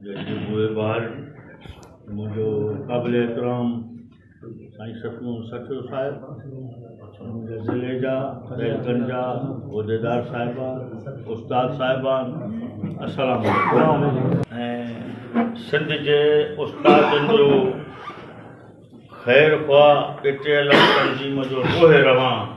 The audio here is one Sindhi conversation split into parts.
جڏهن هو ٻار جي منهنجو قابل احترام سائين ستمون سچو صاحب منهنجي ضلعي جا رئيسن جا عهديدار صاحبان استاد صاحبان السلام ۽ سنڌ جي استادن جو خير خواهه پي ٽي ايل ايف تنظيم جو روح روان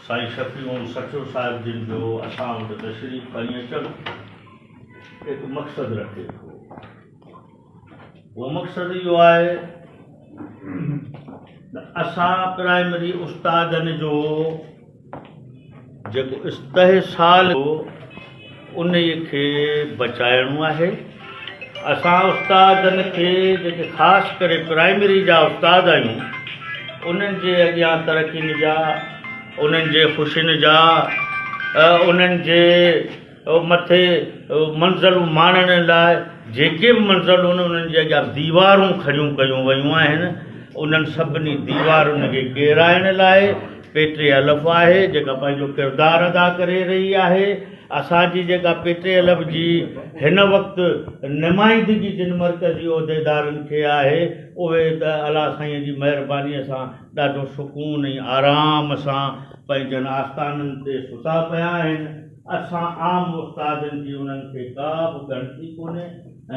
سائين شفيعون سچو صاحب جن جو اسان وٽ تشريف کڻي اچڻ هڪ مقصد رکي ٿو. اهو مقصد اهو آهي ته اسان پرائمري استادن جو جيڪو استحصال هو انهي کي بچائڻو آهي. اسان استادن کي جيڪي خاص ڪري پرائمري جا استاد آهيون انهن جي اڳيان ترقين جا انهن جي خوشين جا انهن جي مٿي منزلون ماڻڻ لاء جيڪي به منزلون آهن انهن جي اڳيان ديوارون کڙيون ڪيون ويون آهن انهن سڀني ديوارن کي ڪيرائڻ لاء پي ٽي ايل ايف آهي جيڪا پنهنجو ڪردار ادا ڪري رهي آهي اسان جي جيڪا پي ٽي ايل ايف جي هن وقت نمائندگي جن مرڪزي عهديدارن کي آهي اهي ته الله سائين جي مهرباني سان ڏاڍو سڪون ۽ آرام سان پنهنجن آستانن تي ستا پيا آهن. اسان عام استادن جي انهن کي ڪا به ڳڻتي ڪونهي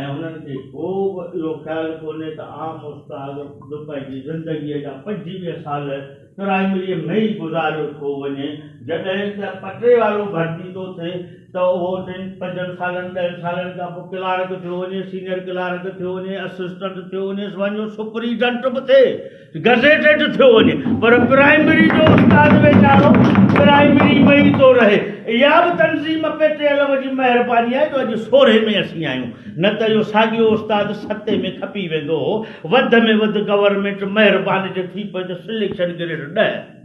۽ انهن کي ڪو به اهو خيال ڪونهي ته عام استاد به پنهنجي زندگيء جا پنجويهه سال پرائمريء ۾ ئي گذاريو ٿو وڃي جڏهن ته پٽڙي وارو ڀرتي ٿو ٿئي ته اهو ٽن پنجن سالن ڏهن سالن کان پوء ڪلارڪ ٿيو وڃي سينئر ڪلارڪ ٿيو وڃي اسسٽنٽ ٿيو وڃيس وڃيو سپريڊنٽ به ٿئي گزيٽيڊ ٿيو وڃي پر پرائمري جو استاد ويچارو پرائمري ۾ ئي ٿو رهي اها به تنظيم پي ٽي الف جي مهرباني آهي جو اڄ سورهين ۾ اسين آهيون نه ته اهو ساڳيو استاد ستين ۾ کپي ويندو هو وڌ ۾ وڌ گورنمينٽ مهربان جي ٿي پئي ته سليڪشن گريڊ ڏهه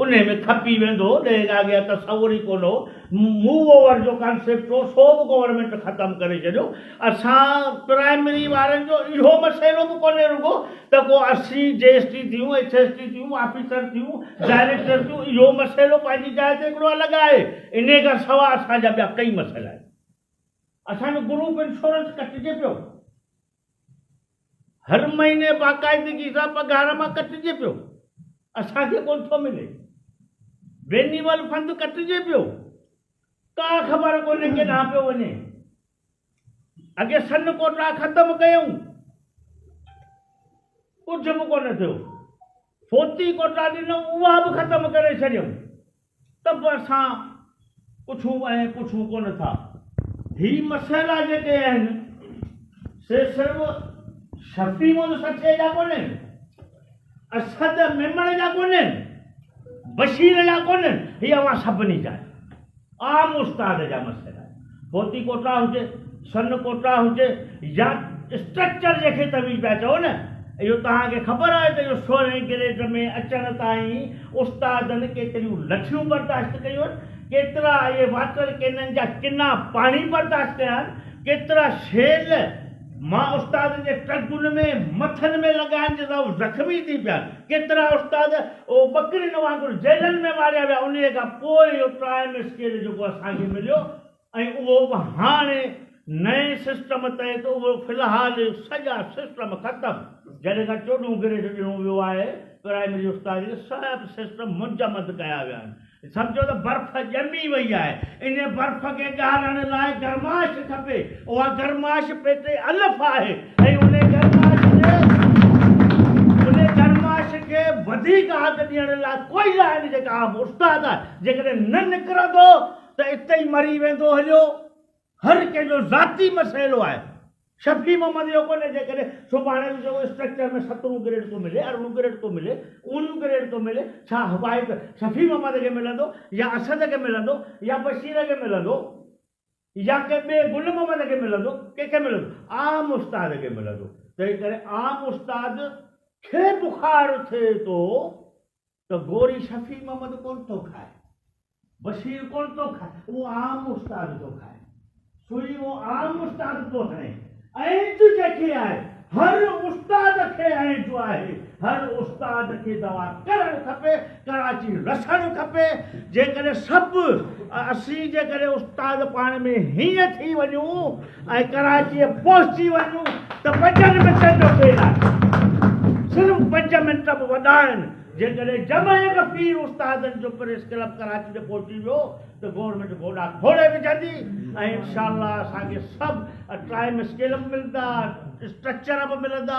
ان ۾ کپي ويندو هو ڏهه کان اڳيان تصور ئي ڪونه هو موو اوور جو ڪانسيپٽ هو سو به گورنمينٽ ختم ڪري ڇڏيو اسان پرائمري وارن جو اهو مسئلو به ڪونهي رڳو ته ڪو اسين جي ايس ٽي ٿيون، ايڇ ايس ٽي ٿيون، آفيسر ٿيون، ڊائريڪٽر ٿيون، اهو مسئلو پنهنجي جاء تي هڪڙو الڳ آهي، انهي کان سوا اسان جا ٻيا ڪئي مسئلا آهن. اسان جو گروپ انشورنس ڪٽجي پيو، هر مهيني باقاعدگي سان پگهار مان ڪٽجي پيو، اسان کي ڪونه ٿو ملي، وينيول فند ڪٽجي پيو، ڪا خبر ڪونهي ڪيڏانهن پيو وڃي. اڳي سن ڪوٽا ختم ڪيائون، ڪجهه به ڪونه ٿيو، فوتي ڪوٽا ڏنائون اها به ختم ڪري ڇڏيائون ته به اسان پڇون ۽ پڇون ڪونه ٿا. هي مسئلا جيڪي آهن سي صرف شفيع مون سٺي جا ڪونهن. اسد ميمڻ جا ڪونهن، بشير جا ڪونهن، هي اوهان سڀني جا آهن. عام استاد جا مسئلا آهن. فوتي ڪوٽا هجي، سن ڪوٽا هجي يا اسٽرڪچر جنهن کي توهين پيا چئو نه، اهو توهان کي خبر آهي ته اهو سورهين گريڊ ۾ اچڻ تائين استادن ڪيتريون لٺيون برداشت ڪيون آهن، ڪيترا اهي واٽر ڪينن جا ڪنا پاڻي برداشت ڪيا آهن، ڪيترا شيل، مان استاد جي ٽنگن ۾ مٿن ۾ لڳائن جي سبب زخمي ٿي پيا. ڪيترا استاد ٻڪرين وانگر جيلن ۾ ماريا ويا. انهيء کان پوء اهو ٽرائيم اسڪيل جيڪو اسان کي مليو ۽ اهو به هاڻي نئين سسٽم تحت اهو في الحال سڄا سسٽم ختم جڏهن کان چوڏهون گريڊ ڏنو ويو آهي پرائمري استاد کي سڀ سسٽم منجمد ڪيا ويا آهن. سمجهو ته برف ڄمي وئي آهي. ان برف کي ڳارڻ لاء گرماش کپي. اها گرماش پيٽ الف آهي ۽ ان گرماش کي ان گرماش کي وڌيڪ آگ ڏيڻ لاء ڪوئلا آهن جيڪا آب استاد آهي. جيڪڏهن نه نڪرندو ته اتي ئي مري ويندو هليو. هر ڪنهن جو ذاتي مسئلو آهي. شفيع محمد اهو ڪونهي جيڪڏهن سڀاڻي به چئون اسٽرڪچر ۾ سترهون گريڊ ٿو ملي ارڙهون گريڊ ٿو ملي اونهون گريڊ ٿو ملي ڇا هوايت شفيع محمد کي ملندو يا اسد کي ملندو يا بشير کي ملندو يا ڪنهن ٻئي گل محمد کي ملندو ڪنهن کي ملندو عام استاد کي ملندو تنهن ڪري عام استاد کي بخار ٿئي ٿو ته گوري شفيع محمد ڪونه ٿو کائي، بشير ڪونه ٿو کائي، اهو عام استاد ٿو کائي. سوئي اهو عام استاد ٿو هڻي. اينج جيڪي آهي، هر استاد کي اينج آهي. هر استاد کي دوا ڪرڻ کپي، ڪراچي رسڻ کپي. جيڪڏهن سڀ اسين جيڪڏهن استاد پاڻ ۾ هيئن ٿي وڃون. ۽ ڪراچيء پهچي وڃون ته پنجن منٽن جو کيل آهي. صرف پنج منٽ به وڏا آهن. جيڪڏهن جمعي کي پير استادن جو پريس ڪلب ڪراچي تي پهچي ويو ته گورنمينٽ گوڏا کوڙي وجهندي ۽ انشاء الله اسان کي سڀ ٽائيم اسڪيل به ملندا، اسٽرڪچر به ملندا.